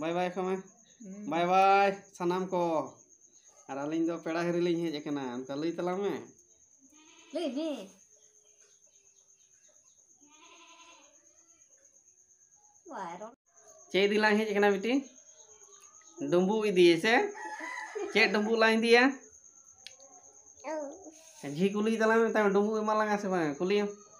ᱵᱟᱭ bye ᱠᱚ ᱢᱮ bye bye ᱥᱟᱱᱟᱢ ᱠᱚ ᱟᱨ ᱟᱹᱞᱤᱧ ᱫᱚ ᱯᱮᱲᱟ ᱦᱤᱨᱤ ᱞᱤᱧ ᱦᱮᱡ ᱟᱠᱟᱱᱟ ᱚᱱᱠᱟ ᱞᱟᱹᱭ ᱛᱟᱞᱟᱝ ᱢᱮ ᱞᱟᱹᱭ ᱢᱮ ᱵᱟᱭ ᱨᱚᱲ ᱪᱮᱫ ᱤᱫᱤ ᱞᱟᱝ ᱦᱮᱡ ᱟᱠᱟᱱᱟ ᱵᱤᱴᱤ ᱰᱩᱸᱵᱩᱜ ᱤᱫᱤ ᱥᱮ ᱪᱮᱫ ᱰᱩᱸᱵᱩᱜ ᱞᱟᱝ ᱤᱫᱤᱭᱟ ᱡᱷᱤ ᱠᱩᱞᱤ ᱛᱟᱞᱟᱝ ᱢᱮ ᱰᱩᱸᱵᱩᱜ ᱮᱢᱟ ᱞᱟᱝᱟ ᱥᱮ ᱵᱟᱝ ᱠᱩᱞᱤᱭᱮᱢ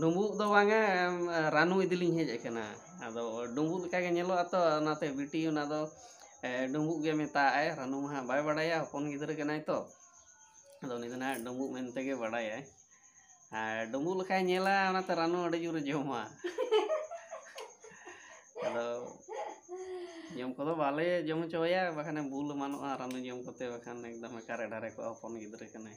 ᱰᱩᱢᱵᱩᱜ ᱫᱚ ᱵᱟᱝᱟ ᱨᱟᱱᱩ ᱤᱫᱤ ᱞᱤᱧ ᱦᱮᱡ ᱟᱠᱟᱱᱟ ᱟᱫᱚ ᱰᱩᱢᱵᱩᱜ ᱞᱮᱠᱟ ᱜᱮ ᱧᱮᱞᱚᱜᱼᱟ ᱛᱚ ᱚᱱᱟᱛᱮ ᱵᱤᱴᱤ ᱚᱱᱟ ᱫᱚ ᱰᱩᱢᱵᱩᱜ ᱜᱮ ᱢᱮᱛᱟᱜ ᱟᱭ ᱨᱟᱱᱩ ᱢᱟ ᱦᱟᱸᱜ ᱵᱟᱭ ᱵᱟᱲᱟᱭᱟ ᱦᱚᱯᱚᱱ ᱜᱤᱫᱽᱨᱟᱹ ᱠᱟᱱᱟᱭ ᱛᱚ ᱟᱫᱚ ᱩᱱᱤ ᱫᱚ ᱦᱟᱸᱜ ᱰᱩᱢᱵᱩᱜ ᱢᱮᱱᱛᱮ ᱜᱮ ᱵᱟᱲᱟᱭᱟᱭ ᱟᱨ ᱰᱩᱢᱵᱩᱜ ᱞᱮᱠᱟᱭ ᱧᱮᱞᱟ ᱚᱱᱟᱛᱮ ᱨᱟᱱᱩ ᱟᱹᱰᱤ ᱡᱳᱨᱮ ᱡᱚᱢᱟ ᱟᱫᱚ ᱡᱚᱢ ᱠᱚᱫᱚ ᱵᱟᱞᱮ ᱡᱚᱢ ᱦᱚᱪᱚᱣᱟᱭᱟ ᱵᱟᱠᱷᱟᱱᱮ ᱵᱩᱞ ᱮᱢᱟᱱᱚᱜᱼᱟ ᱨᱟᱱᱩ ᱡᱚᱢ ᱠᱚᱛᱮ ᱵᱟᱠᱷᱟᱱ ᱮᱠᱫᱚᱢ ᱮᱠᱟᱨᱮ ᱰᱟᱨᱮ ᱠᱚᱜᱼᱟ ᱦᱚᱯᱚᱱ ᱜᱤᱫᱽᱨᱟᱹ ᱠᱟᱱᱟᱭ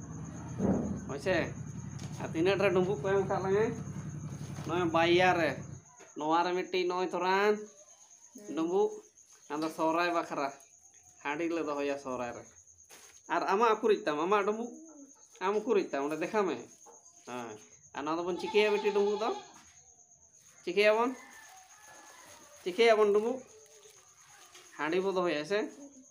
ᱦᱳᱭᱥᱮ ᱟᱨ ᱛᱤᱱᱟᱹᱜ ᱨᱮ ᱰᱩᱸᱵᱩᱜ ᱠᱚ ᱮᱢ ᱠᱟᱜ ᱞᱟᱝᱟ ᱱᱚᱜᱼᱚᱭ ᱵᱟᱭᱭᱟ ᱨᱮ ᱱᱚᱣᱟ ᱨᱮ ᱢᱤᱫᱴᱤᱡ ᱱᱚᱜᱼᱚᱭ ᱛᱚᱨᱟᱱ ᱰᱩᱸᱵᱩᱜ ᱟᱫᱚ ᱥᱚᱦᱨᱟᱭ ᱵᱟᱠᱷᱨᱟ ᱦᱟᱺᱰᱤ ᱞᱮ ᱫᱚᱦᱚᱭᱟ ᱥᱚᱦᱨᱟᱭ ᱨᱮ ᱟᱨ ᱟᱢᱟᱜ ᱩᱠᱩᱨᱤᱡ ᱛᱟᱢ ᱟᱢᱟᱜ ᱰᱩᱸᱵᱩᱜ ᱟᱢ ᱩᱠᱩᱨᱤᱡ ᱛᱟᱢ ᱚᱸᱰᱮ ᱫᱮᱠᱷᱟ ᱢᱮ ᱦᱮᱸ ᱟᱨ ᱱᱚᱣᱟ ᱫᱚᱵᱚᱱ ᱪᱤᱠᱟᱹᱭᱟ ᱵᱤᱴᱤ ᱰᱩᱸᱵᱩᱜ ᱫᱚ ᱪᱤᱠᱟᱹᱭᱟᱵᱚᱱ ᱪᱤᱠᱟᱹᱭᱟᱵᱚᱱ ᱰᱩᱸᱵᱩᱜ ᱦᱟᱺᱰᱤ ᱵᱚ ᱫᱚᱦᱚᱭᱟ ᱥᱮ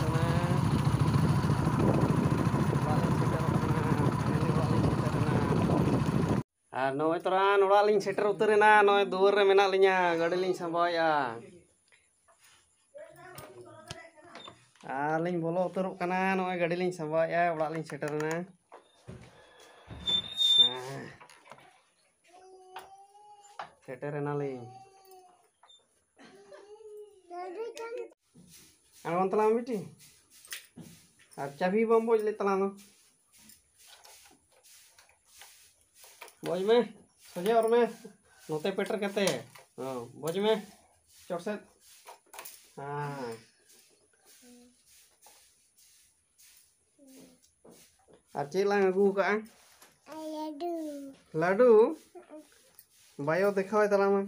ᱫᱚᱢᱮ ᱚᱲᱟᱜ ᱞᱤᱧ ᱥᱮᱴᱮᱨ ᱟᱠᱟᱱᱟ ᱯᱷᱟᱭᱱᱟᱞᱤ ᱚᱲᱟᱜ ᱞᱤᱧ ᱥᱮᱴᱮᱨ ᱮᱱᱟ ᱟᱨ ᱱᱚᱜᱼᱚᱭ ᱛᱚᱨᱟᱱ ᱚᱲᱟᱜ ᱞᱤᱧ ᱥᱮᱴᱮᱨ ᱩᱛᱟᱹᱨ ᱮᱱᱟ ᱱᱚᱜᱼᱚᱭ ᱫᱩᱣᱟᱹᱨ ᱨᱮ ᱢᱮᱱᱟᱜ ᱞᱤᱧᱟ ᱜᱟᱹᱰᱤ ᱞᱤᱧ ᱥᱟᱢᱵᱟᱣᱮᱜᱼᱟ ᱟᱨ ᱞᱤᱧ ᱵᱚᱞᱚ ᱩᱛᱟᱹᱨᱚᱜ ᱠᱟᱱᱟ ᱱᱚᱜᱼᱚᱭ ᱜᱟᱹᱰᱤ ᱞᱤᱧ ᱥᱟᱢᱵᱟᱣᱮᱜᱼᱟ ᱚᱲᱟᱜ ᱞᱤᱧ ᱥᱮᱴᱮᱨ ᱮᱱᱟ ᱦᱮᱸ ᱥᱮᱴᱮᱨ ᱮᱱᱟᱞᱤᱧ ᱟᱬᱜᱚᱱ ᱛᱟᱞᱟᱝ ᱵᱤᱴᱤ ᱟᱨ ᱪᱟᱵᱤ ᱵᱟᱢ ᱵᱚᱡ ᱞᱮᱫ ᱛᱟᱞᱟᱝ ᱫᱚ ᱵᱚᱡ ᱢᱮ ᱥᱚᱡᱷᱮ ᱚᱨ ᱢᱮ ᱱᱚᱛᱮ ᱯᱮᱴᱮᱨ ᱠᱟᱛᱮ ᱦᱚᱸ ᱵᱚᱡ ᱢᱮ ᱪᱚᱴ ᱥᱮᱫ ᱦᱮᱸ ᱟᱨ ᱪᱮᱫ ᱞᱟᱝ ᱟᱹᱜᱩ ᱠᱟᱜᱼᱟ ᱞᱟᱹᱰᱩ ᱞᱟᱹᱰᱩ ᱵᱟᱭᱳ ᱫᱮᱠᱷᱟᱣᱟᱭ ᱛᱟᱞᱟᱝ ᱢᱮ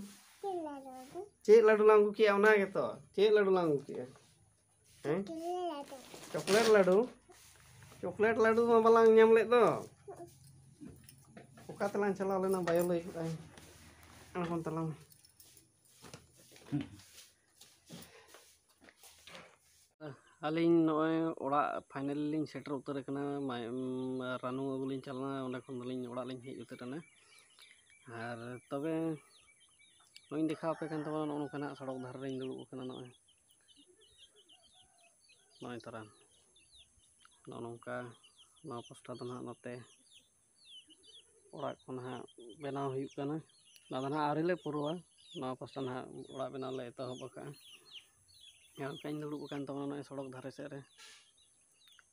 ᱪᱮᱫ ᱞᱟᱹᱰᱩ ᱞᱟᱝ ᱟᱹᱜᱩ ᱠᱮᱜᱼᱟ ᱚᱱᱟ ᱜᱮᱛᱚ ᱪᱮᱫ ᱞᱟᱹᱰᱩ ᱞᱟᱝ ᱟᱹᱜᱩ ᱠᱮᱜᱼᱟ ᱦᱮᱸ ᱪᱚᱠᱞᱮᱴ ᱞᱟᱹᱰᱩ ᱪᱚᱠᱞᱮᱴ ᱞᱟᱹᱰᱩ ᱢᱟ ᱵᱟᱞᱟᱝ ᱧᱟᱢ ᱞᱮᱫ ᱫᱚ ᱚᱠᱟ ᱛᱮᱞᱟᱝ ᱪᱟᱞᱟᱣ ᱞᱮᱱᱟ ᱵᱟᱭᱳ ᱞᱟᱹᱭ ᱠᱮᱫᱟᱭ ᱟᱬᱜᱚᱱ ᱛᱟᱞᱟᱝ ᱢᱮ ᱟᱹᱞᱤᱧ ᱱᱚᱜᱼᱚᱭ ᱚᱲᱟᱜ ᱯᱷᱟᱭᱱᱮᱞ ᱞᱤᱧ ᱥᱮᱴᱮᱨ ᱩᱛᱟᱹᱨ ᱟᱠᱟᱱᱟ ᱨᱟᱱᱩ ᱟᱹᱜᱩ ᱞᱤᱧ ᱪᱟᱞᱟᱣ ᱞᱮᱱᱟ ᱚᱸᱰᱮ ᱠᱷᱚᱱ ᱫᱚᱞᱤᱧ ᱚᱲᱟᱜ ᱞᱤᱧ ᱦᱮᱡ ᱩᱛᱟᱹᱨ ᱮᱱᱟ ᱟᱨ ᱛᱚᱵᱮ ᱱᱚᱜᱼᱚᱭ ᱤᱧ ᱫᱮᱠᱷᱟᱣ ᱟᱯᱮ ᱠᱟᱱ ᱛᱟᱵᱚᱱᱟ ᱱᱚᱜᱼᱚ ᱱᱚᱝᱠᱟ ᱱᱟᱜ ᱥᱚᱲᱚᱠ ᱫᱷᱟᱨᱮ ᱨᱤᱧ ᱫᱩᱲᱩᱵ ᱟᱠᱟᱱᱟ ᱱᱚᱜᱼᱚᱭ ᱱᱚᱜᱼᱚᱭ ᱛᱚᱨᱟ ᱱᱚᱜᱼᱚ ᱱᱚᱝᱠᱟ ᱱᱚᱣᱟ ᱯᱳᱥᱴᱟᱨ ᱫᱚ ᱱᱟᱦᱟᱜ ᱱᱚᱛᱮ ᱚᱲᱟᱜ ᱠᱚ ᱱᱟᱦᱟᱜ ᱵᱮᱱᱟᱣ ᱦᱩᱭᱩᱜ ᱠᱟᱱᱟ ᱟᱫᱚ ᱱᱟᱦᱟᱜ ᱟᱹᱣᱨᱤ ᱞᱮ ᱯᱩᱨᱟᱹᱣᱟ ᱱᱚᱣᱟ ᱯᱟᱥᱴᱟ ᱱᱟᱦᱟᱜ ᱚᱲᱟᱜ ᱵᱮᱱᱟᱣ ᱞᱮ ᱮᱛᱚᱦᱚᱵ ᱟᱠᱟᱫᱼᱟ ᱡᱟᱦᱟᱸ ᱞᱮᱠᱟᱧ ᱫᱩᱲᱩᱵ ᱟᱠᱟᱱ ᱛᱟᱵᱚᱱᱟ ᱱᱚᱜᱼᱚᱸᱭ ᱥᱚᱲᱚᱠ ᱫᱷᱟᱨᱮ ᱥᱮᱫ ᱨᱮ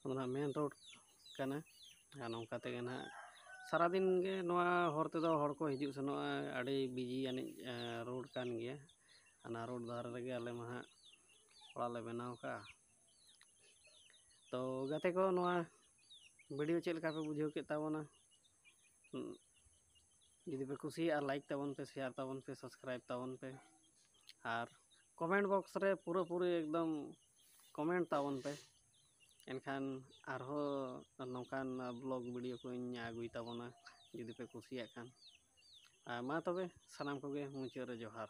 ᱟᱫᱚ ᱱᱟᱦᱟᱜ ᱢᱮᱱ ᱨᱳᱰ ᱠᱟᱱᱟ ᱟᱨ ᱱᱚᱝᱠᱟ ᱛᱮᱜᱮ ᱱᱟᱦᱟᱜ ᱥᱟᱨᱟ ᱫᱤᱱ ᱜᱮ ᱱᱚᱣᱟ ᱦᱚᱨ ᱛᱮᱫᱚ ᱦᱚᱲ ᱠᱚ ᱦᱤᱡᱩᱜ ᱥᱮᱱᱚᱜᱼᱟ ᱟᱹᱰᱤ ᱵᱤᱡᱤ ᱟᱹᱱᱤᱡ ᱨᱳᱰ ᱠᱟᱱ ᱜᱮᱭᱟ ᱚᱱᱟ ᱨᱳᱰ ᱫᱷᱟᱨᱮ ᱨᱮᱜᱮ ᱟᱞᱮ ᱢᱟ ᱦᱟᱸᱜ ᱚᱲᱟᱜ ᱞᱮ ᱵᱮᱱᱟᱣ ᱠᱟᱜᱼᱟ ᱛᱚ ᱜᱟᱛᱮ ᱠᱚ ᱱᱚᱣᱟ ᱵᱷᱤᱰᱤᱭᱳ ᱪᱮᱫ ᱞᱮᱠᱟ ᱯᱮ ᱵᱩᱡᱷᱟᱹᱣ ᱠᱮᱫ ᱛᱟᱵᱚᱱᱟ ᱡᱩᱫᱤ ᱯᱮ ᱠᱩᱥᱤᱭᱟᱜᱼᱟ ᱞᱟᱭᱤᱠ ᱛᱟᱵᱚᱱ ᱯᱮ ᱥᱮᱭᱟᱨ ᱛᱟᱵᱚᱱ ᱯᱮ ᱥᱟᱵᱥᱠᱨᱟᱭᱤᱵ ᱛᱟᱵᱚᱱ ᱯᱮ ᱟᱨ ᱠᱚᱢᱮᱱᱴ ᱵᱚᱠᱥ ᱨᱮ ᱯᱩᱨᱟᱹ ᱯᱩᱨᱤ ᱮᱠᱫᱚᱢ ᱠᱚᱢᱮᱱᱴ ᱛᱟᱵᱚᱱ ᱯᱮ ᱮᱱᱠᱷᱟᱱ ᱟᱨᱦᱚᱸ ᱱᱚᱝᱠᱟᱱ ᱵᱞᱚᱜ ᱵᱷᱤᱰᱤᱭᱳ ᱠᱚᱧ ᱟᱹᱜᱩᱭ ᱛᱟᱵᱚᱱᱟ ᱡᱩᱫᱤ ᱯᱮ ᱠᱩᱥᱤᱭᱟᱜ ᱠᱷᱟᱱ ᱟᱨ ᱢᱟ ᱛᱚᱵᱮ ᱥᱟᱱᱟᱢ ᱠᱚᱜᱮ ᱢᱩᱪᱟᱹᱫ ᱨᱮ ᱡᱚᱦᱟᱨ